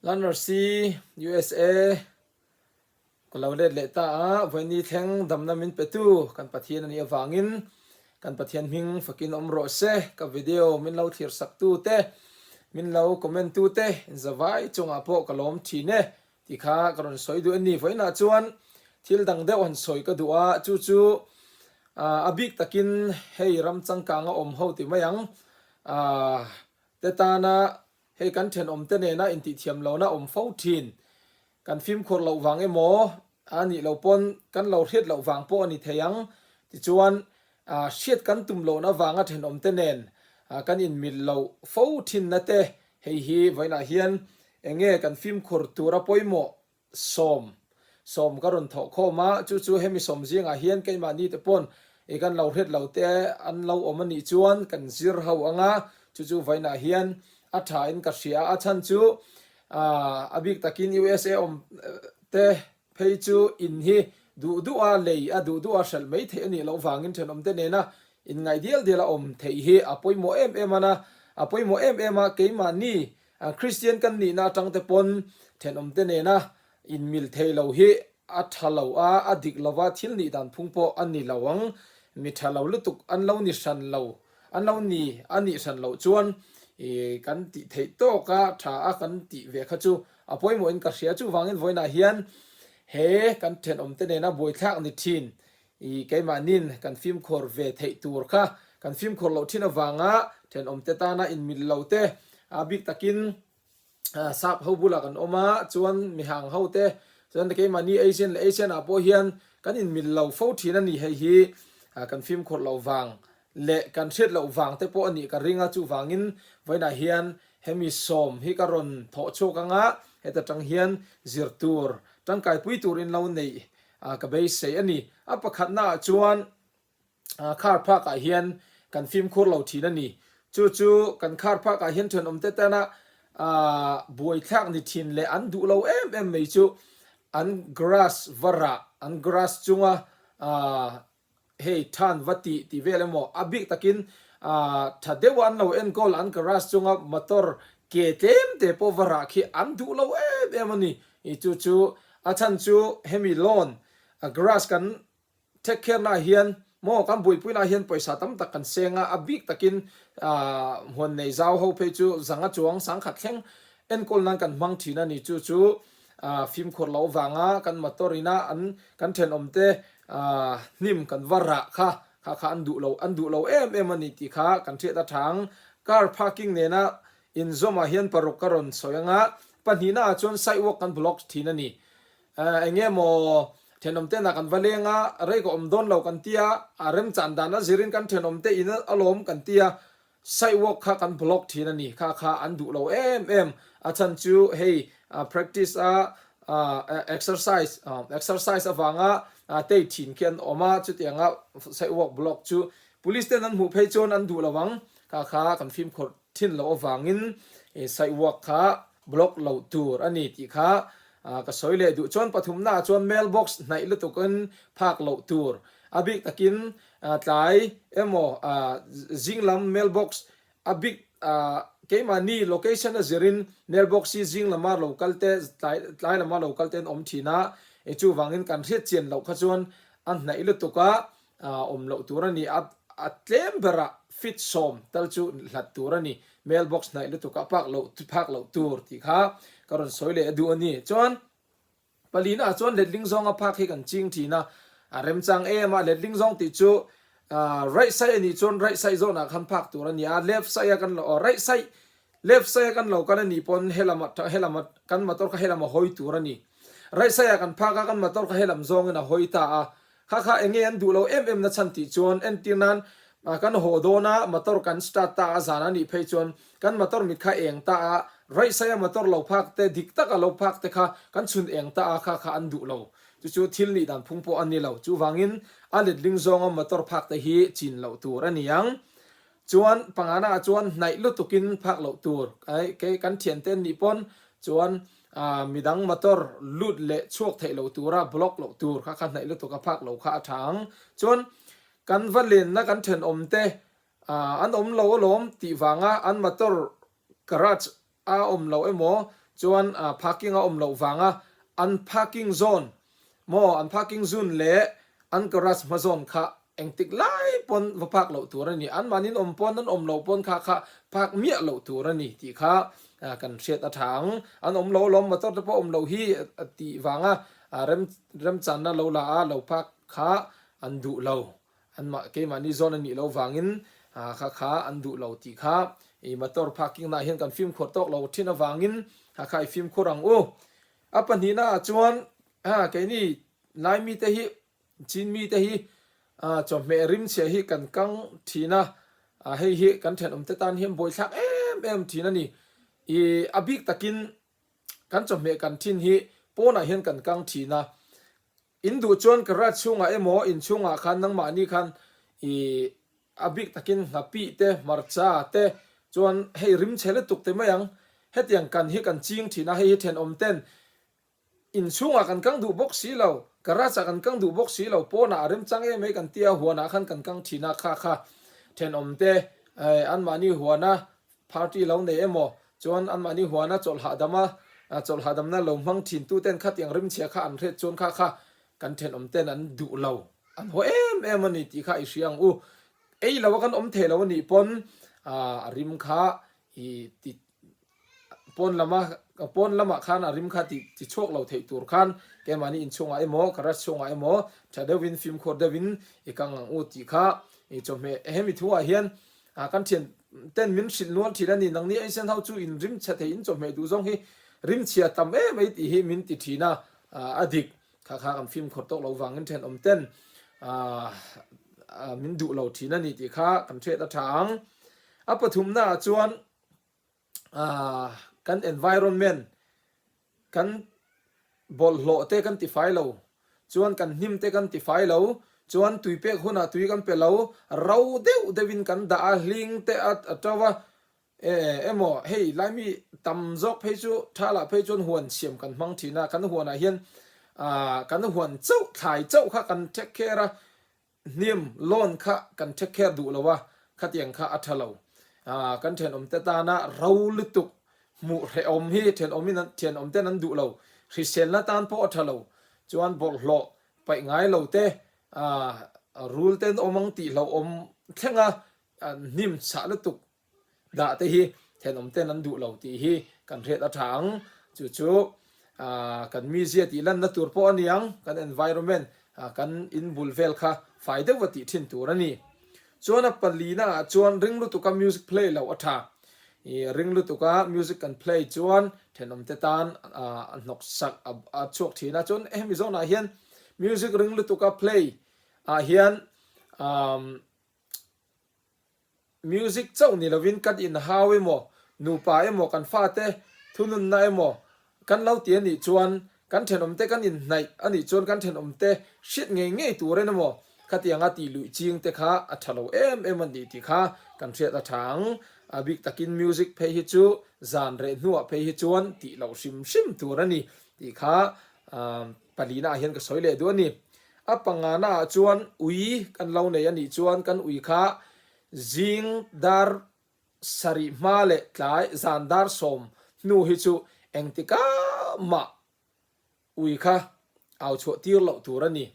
Lanrsi, usa, ka lo let leh ta a, vawiin i thleng damna min petu kan Pathian a nih avangin kan Pathian hming fakin awm rawh se. Ka video min lo thlirsaktu te, min lo comment-tu te in zavai chungah pawh ka lawm thin e. Ti kha ka rawn sawi duh anni vawiin ah chuan thil dang deuh han sawi ka duh a, chu chu a bik takin hei ram changkang a awm ho ti mai ang te tana hei kan thenawm te nena intithiam lo na awm fo thin kan fimkhur loh vang emaw a nih lo pawn kan lo hriat loh vang pawh a ni thei ang tichuan Hriat kan tum loh na vanga thenawm te nen kan inmil loh fo thin na te hei hi vawiin ah hian eng nge kan fimkhur tur a pawimawh sawm sawm ka rawn thawh khawm a, chu chu hemi sawm zing ah hian keimah ni te pawn i kan lo hret lo te an lo awm a nih chuan kan zir ho ang a, chu chu vawiin ah hian a tha in ka hria a chhan chu a bik tak in usa awm te Phei chu in hi duh duh a lei a duh duh a hralh mai theih a nih loh vangin thenawmte nena in ngaih dial dial a awm theih hi a pawimawh em em an a, a pawimawh em em a keimahni Kristian kan nihna atangte pawn thenawmte nena in mil thei lo hi a tha lo a, a dik lova thil nih dan phung pawh a ni lo ang. Mi tha lo lutuk an lo ni hran lo, an lo ni a nih hran loh chuan i kan tih theih tawka tha a kan tih ve kha chu A pawimawh in ka hria. Chu vangin vawiin ah hian he kan thenawm te nena buaithlak ni thin i keimahnin kan fimkhawr ve theih tur kha kan fimkhawr loh thin avanga thenawm te tana inmil lo te a bik takin sap ho bulah kan awm a chuan mihang ho te chuan keimahni asian leh asian ah pawh hian kan inmil lo fo thin a ni hei hi kan fimkhawr loh vang leh kan hriat loh vang te pawh a nih ka ring a, chuvangin vawiinah hian hemi sawm hi ka rawn thawh chhuak ang a, heta tang hian zir tur, tangkai pui turin lo neih ka beisei a ni. A pakhatna ah chuan khar phak ah hian kan fimkhur lo thin a ni. Chu chu kan khar phak ah hian thenawm te tana buai thlak ni thin leh an duh lo em em mai chu an grass var ah, an grass chunga Hei than va ti ti vel emaw? A bik takin tha deuha an lo en goal an garage chunga motor ke tlem te pawh va rah khi an duh lo em em a ni. I chu chu a chhan chu hemi loan garage kan take care naah hian maw kan buaipui naah hian pawisa tam tak kan seng a, a bik takin huan nei zau ho phei chu zanga chuang sangkhat thleng enkawl nan kan hmang thin a ni chu chu. A fimkhur loh vanga kan motor ina an kan thenawm te a hnim kan va rah kha, kha kha an duh lo, an duh lo em em a ni tih kha kan hriat a thang. Car parking nena in zawmah hian paruk ka rawn sawi anga pahnihna ah chuan sidewalk kan block thin a ni. Ahh eng nge maw thenawm te nah kan va leng a, rei ka awm dawn lo kan tia, a remchan dan a zir in kan thenawm te in alawm kan tia. Sidewalk kha kan block thin a ni kha kha an duh lo em em. A chhan chu hei practice a exercise exercise avanga tei thin khi an awm a, chutiang a sidewalk block chu police ten an hmuh phei chuan an duh lo ang kha kha kan fimkhawrh thin loh avangin he sidewalk kha block loh tur a ni tih kha ka sawi leh duh. Chuan pathumna ah chuan mailbox hnaih lutukin phak loh tur a bik takin Tlai emaw zing lam mail box a bik keimahni location a zir in mail box hi zing lama lo kal te tlai lama lo kal ten awm thin a, i chuvang in kan hriatchian loh kha chuan a hnaih lutuk a awm loh tur a ni a, a tlem ber ah fit sawm tal chu hlat tur a ni, mail box hnaih lutuk a phak loh phak loh tur tih kha ka rawn sawi leh a duh a ni. Chuan. Pali naah chuan letling zawng a phak hi kan ching thin a, a remchang em a, letling zawng tih chu right side a nih chuan right side zawh nah khan phak tur a ni a, left side a kan lo aw right side left side a kan lo kal a nih pawn helam a helam a kan motor kha helam a hawi tur a ni, right side ah kan phak a kan motor kha helam zawngin a hawi ta a, Kha kha enge an duh lo em em nachhan tih chuan entir nan kan haw dawn a, motor kan start ta a zan a nih phei chuan kan motor mit kha eng ta a, raihsai a motor lo phak te dik tak a lo phak te kha kan chhun eng ta a kha kha an duh lo chu chu thil nih dan phung pawh an ni lo chuvangin a letling zawnga motor phak te hi chin loh tur a niang Chuan pangana ah chuan hnaih lutuk in phak loh tur kei kan thian te an nih pawn chuan midang motor lut leh chhuak theih loh tur a block loh tur kha kha hnaih lutuk a phak lo kha a tha ang. Chuan kan va len na kan thenawm te an awm lo alawm tih vang a an motor garage a awm loh emaw chuan parking a awm loh vanga an parking zone maw an parking zun leh an garage hma zawn kha engtik lai pawn va park loh tur a ni. Anmahniin awm pawn an awm loh pawn kha kha park miah loh tur a ni tih kha kan hriat a tha ang. An awm loh alawm motor te pawh awm loh hi tih vanga remchanna lo la a, lo park kha an duh lo. Anmah keimahni zawn an nih lo vangin hakha kha an duh lo tih kha i motor parking naah hian kan fimkhur tawk lo thin avangin hakha i fimkhur ang u. A pahnihna ah chuan keini Lai mite hi Chin mite hi chawhmeh rimchhia hi kan kang thin a, hei hi kan thenawmte tan hian buaithlak em em thin a ni i a bik takin kan chawhmeh kan thin hi pawnah hian kan kang thin a. In duh chuan ka rat chhungah emaw in chhungah khan nangmahni khan i a bik takin hnapi te, hmarcha te chuan hei rim chhe lutuk te mai ang. Hetiang kan hi kan ching thin a, hei hi thenawm ten in chhungah kan kang duh bawk si lo, ka ratah kan kang duh bawk si lo, pawnah a remchang em mai kan tia, huanah khan kan kang thin a, kha kha. Thenawm te anmahni huana Party lo nei emaw chuan an mahni huana chawlh hahdam a chawlh hahdamna lo hmang thin tu ten kha tiang rimchhia kha an hriat chuan kha kha kan thenawm ten an duh lo an haw em em a ni tih kha i hria ang u ei lo a kan awm thei lo a nih pawn a rim kha i ti pawn lama pawn lama khan a rim kha ti ti chhuak lo theih tur khan ke mahni in chhungah emaw garage chhungah emaw tha deuh in fimkhur deuh in i kang ang u tih kha i chawhmeh he mi thu ah hian A, kan thian ten min hrilh nual thin a ni, nang nih Asian ho chu in rimchhia thei in chawhmeh duh zawng hi rimchhia tam em mai tih hi min ti thin a, a dik kha kha kan fimkhawr tawk lo vangin thenawm ten min duh lo thin a ni tih kha kan hriat a tha ang. A pathumnaah chuan. kan environment kan bawlh hlawh te kan ti fai lo, chuan kan hnim te kan ti fai lo, chuan tui pek hunah tui kan pe lo, ro deuh deuh in kan dah a, hling te a to va, emaw hei Laimi tam zawk phei chu tha lah phei chuan huan siam kan hmang thin a, kan huanah hian kan huan chauh thlai chauh kha kan take care a, Hnim, loan kha kan take care duh lo a, khatiang kha a tha lo. Kan thenawmte tana ro lutuk hmuh hrehawm hi thenawmte'n an duh lo. Hriselna tan pawh a tha lo. Chuan bawrhhlawh paih ngai lo te, rule te an awm ang tih hlauhawm thlenga hnim chah lutuk Dah te hi thenawm ten an duh lo tih hi kan hriat a tha ang. Chu chu kan mizia tih lanna tur pawh a ni ang, kan environment, kan in bul vel kha fai deuh va tih thin tur a ni. Chuan a palina ah chuan ring lutuka music play lo a tha. I ring lutuka music kan play chuan thenawm te tan a hnawksak a chhuak thin a. Chuan hemi zawnah hian music ring lutuka play ah hian umm. Music chauh ni lovin kan inhau emaw, nupa emaw, kan fate thununna emaw kan lo ti a nih chuan kan thenawmte kan inhnaih a nih chuan kan thenawmte hriat ngei ngei tur en emaw khatianga tih luih ching te kha a tha lo em em a ni tih kha kan hriat a tha ang. A bik takin music phei hi chu zan reh hnuah phei hi chuan tih loh hrim hrim tur a ni tih kha Pahlihna ah hian ka sawi leh duh a ni. A pangana ah chuan ui kan lo nei a nih chuan kan ui kha zing dar sarih hma leh tlai zan dar sawm hnu hi chu engtika mah ui kha au chhuah tir loh tur a ni.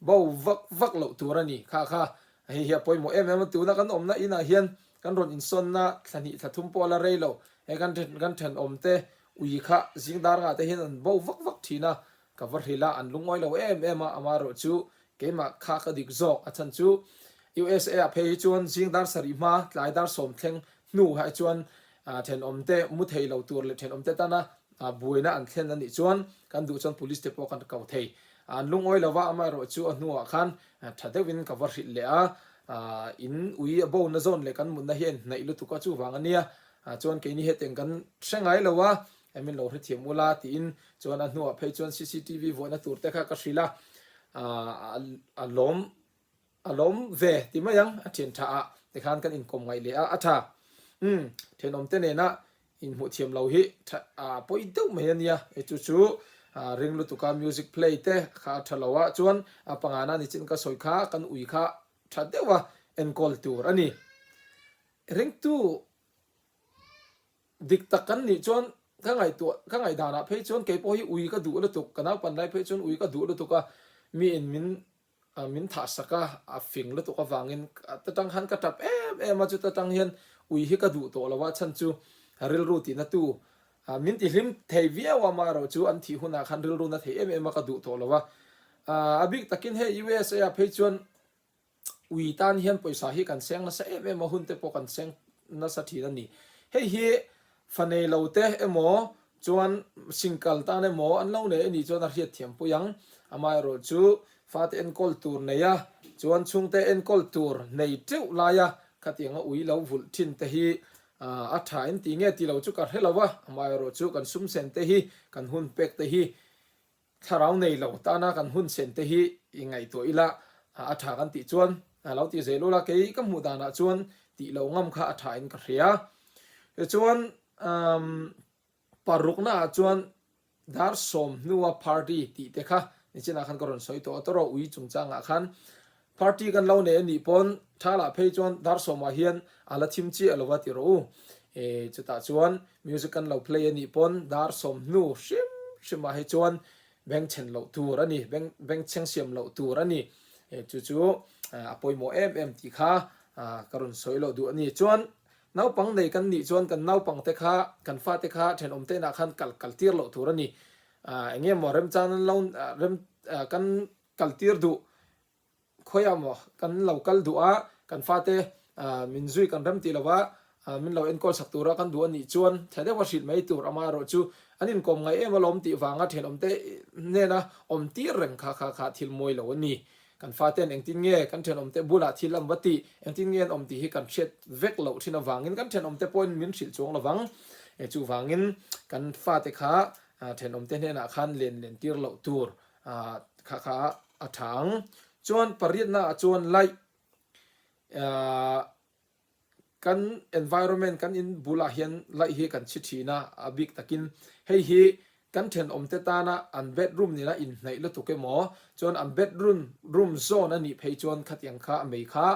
Bo vak vak loh tur a ni. Kha kha hei hi a pawimawh em em a, tuna kan awmna in ah hian kan rawn insawnna thla hnih thla thum pawh a la rei lo. He kan then kan thenawm te Ui kha zingdar ngah te hian an bo vak vak thin a, ka va hrilh a, an lungawi lo em em a, amah erawh chu keimah kha ka dik zawk, a chhan chu usa ah phei hi chuan zingdar sarih hma tlaidar sawm thleng hnu ah chuan thenawm te mu thei lo tur leh thenawm te tana buaina an thlen a nih chuan kan duh chuan police te pawh kan ko thei an lungawi lo va, amah erawh chu a hnu ah khan tha deuh in ka va hrilh leh a, in ui a bo na zawn leh kan mutna hi a inhnaih lutuk a chuvang a nia A chuan kei ni hetiang kan hre ngai lo a, min lo hre thiam ula tiin chuan a hnuah phei chuan cctv vuahna tur te kha ka hrilh a, a lawm a lawm ve ti mai ang a thian tha ah tikhan kan inkawm ngaih leh a a tha umm thenawm te nena inhmuh thiam lo hi tha a pawi deuh mai a nia e chu chu ring lutuka music play te kha a tha lo a chuan a panga na nichin ka sawi kha kan ui kha tha deuh a enkawl tur a ni. I ringtu dik tak kan nih chuan ka ngaihtuah ka ngaihdanah phei chuan kei pawh hi ui ka duh lutuk, ka naupan lai phei chuan ui ka duh lutuk a, mi in min min thah sak a, a fing lutuk avangin ta tang khan ka tap em em a, chuta tang hian ui hi ka duh tawh lo a, chhan chu rilru ti na tu min ti hlim thei viau a, mah erawh chu an thih hunah khan rilru na thei em em a ka duh tawh lo a, a bik takin hei usa ah phei chuan. Ui tan hian pawisa hi kan seng nasa em em a, hunte pawh kan seng nasa thin a ni. Hei hi fa nei lo te emaw chuan sin kal tan emaw an lo nei a nih chuan a hriatthiam pui ang. Amaherawh chu fate enkawl tur nei a, chuan chhungte enkawl tur nei teuh laia khatianga ui lo vulh thin te hi a tha en ti nge tilo chu ka hre lo a, amaherawh chu kan sumsen te hi kan hun pek te hi Thlarau nei lo tana kan hun sen te hi i ngaihtuah ila, a tha kan tih chuan lo ti zeh lula kei ka hmuh danah chuan tih lo ngam kha a thain ka hria. Tichuan umm parukna ah chuan dar sawm hnua party tih te kha nichinah khan ka rawn sawi tawh a tawraw ui chungchangah khan Party kan lo nei a nih pawn tha lah phei chuan Darsawma hian a la thim chiah lo va ti rawh u. E, chutah chuan music kan lo play a nih pawn Darsawm hnu hrim hrimah hi chuan beng chhen loh tur a ni, beng beng cheng siam loh tur a ni. E, chu chu a pawimawh em em tih kha ka rawn sawi loh duh a ni. Chuan naupang nei kan nih chuan kan naupang te kha, kan fa te kha thenawm tein ah khan kal kal tir loh tur a ni. A, eng nge maw remchang nan lo rem kan Kaltir duh khawiah maw kan lo kal duh a, kan fate min zui kan rem tih lo a, min lo enkawl sak tura kan duh a nih chuan thliah deuha hrilh mai tur ama erawh chu an inkawm ngai em alawm tih vanga thenawmte nena awm tir reng kha kha kha thil mawi lo a ni. Kan fate'n engtin nge kan thenawmte bulah thil an va tih, engtin nge an awm tih hi kan hriat vek loh thin avangin kan thenawmte pawhin min hrilh chuang lo vang. Chuvangin kan fate kha thenawmte hnenah khan len len tir loh tur A kha kha a tha ang. Chuan pariatna ah chuan light ah kan environment kan in bulah hian light hi kan chhi thin a, a bik takin hei hi kan thenawm te tana an bedroom nena inhnaih lutuk emaw chuan an bedroom room zawn a nih phei chuan khatiang kha a mei kha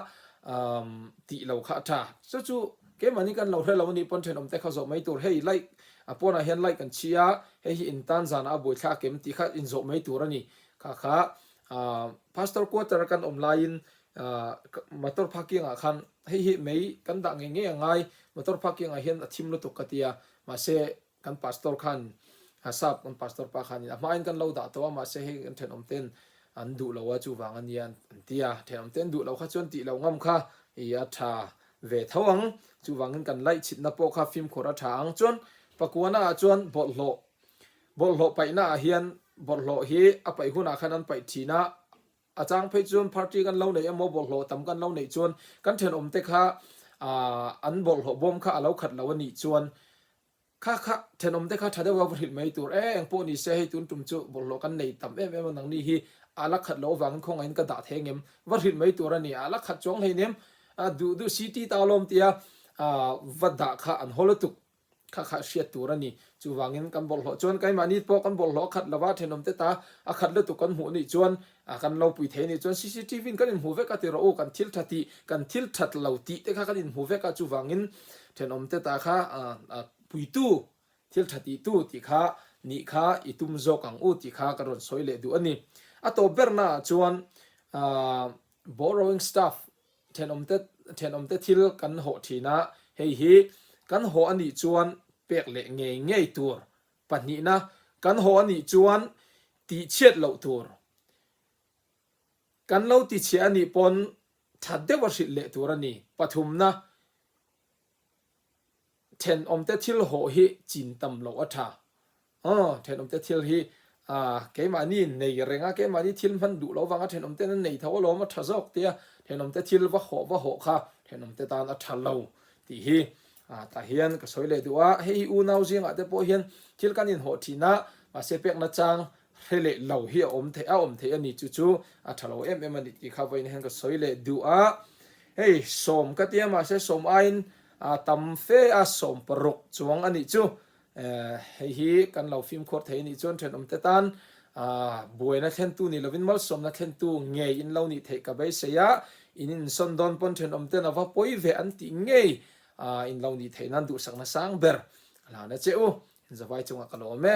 umm tih lo kha a tha. Chu chu keimahni kan lo hre lo anih pawn thenawm te kha zawh mai tur hei light A pawnah hian like kan chhi a, hei hi in tan zanah a buai thla a kem tih kha inzawh mai tur a ni. Kha kha Pastor quarter kan awm laiin motor parking ah khan hei hi mei kan dah ngei ngei a ngai, motor parking ah hian a thim lutuk ka ti a, mahse kan Pastor khan Sap kan Pastor pa khanin a hmain kan lo dah tawh a, mahse hei kan thenawm ten an duh lo a chuvang a nia an ti a, thenawm te an duh lo kha chuan tih lo ngam kha i a tha ve tho ang. Chuvangin kan laihchhipna pawh kha fimkhur a tha ang. Chuan Pakuana ah chuan bawlhhlawh bawlhhlawh paihna ah hian bawlhhlawh hi a paih hunah khan an paih thin a, a chang phei chuan party kan lo neih emaw bawlhhlawh tam kan lo neih chuan kan thenawmte kha an bawlhhlawh bawm kha a lo khat lo a nih chuan Kha kha, thenawm te kha tha deuha va hrilh mai tur e, eng pawh ni se hei tun tum chu bawlhhlawh kan nei tam em em a, nangni hi a la khat loh avangin khawngaih in ka dah theng em? Va hrilh mai tur a ni, a la khat chuang hleinem? A duh duh si ti ta lawm tia va dah kha an haw lutuk. Kha kha hriat tur a ni, chuvangin kan bawlhhlawh chuan keimahni pawh kan bawlhhlawh a khat lova, thenawm te ta a khat lutuk kan hmuh anih chuan A kan lo pui thei ni chuan cctv in kan inhmuh vek a ti rawh u, kan thil tha tih, kan thil that lo tih te kha kan inhmuh vek a, chuvangin thenawm te ta kha puitu, thil tha tih tu tih kha nih kha i tum zawk ang u tih kha kan rawn sawi leh duh a ni. A tawp ber naah chuan borrowing stuff, thenawm te, thenawm te thil kan hawh thin a, hei hi kan hawh a nih chuan pek leh ngei ngei tur pahnihna kan haw a nih chuan tih chhiat loh tur kan lo ti chhe a nih pawn that deuh a hrilh leh tur a ni. Pathumna, thenawmte thil haw hi chin tam loh a tha. Aw, thenawmte thil hi keimahni nei reng a, keimahni thil hman duh loh avanga thenawmte'n a nei tho alawm, a tha zawk tia, thenawmte thil va haw va haw kha thenawmte tan a tha lo tih hi Ah tah hian ka sawi leh duh a, hei hi unau zingah te pawh hian thil kan inhawh thin a, mahse pekna chang hre leh lo hi a awm theih a, awm theih a nih chu chu a tha lo em em a nih tih kha vawiin hian ka sawi leh duh a. Hei sawm ka ti a, mahse sawm aiin a tam fe a, sawm paruk chuang a nih chu. Hei hi kan lo fimkhur thei a nih chuan thenawm te tan buaina thlentu nih lovin malsawmna thlentu ngei in lo nih theih ka beisei a, in insawn dawn pawn thenawm ten a va pawi ve an tih ngei in lo nih theih nan duhsakna sang ber a hlan a che u, in zavai chungah ka la awm e.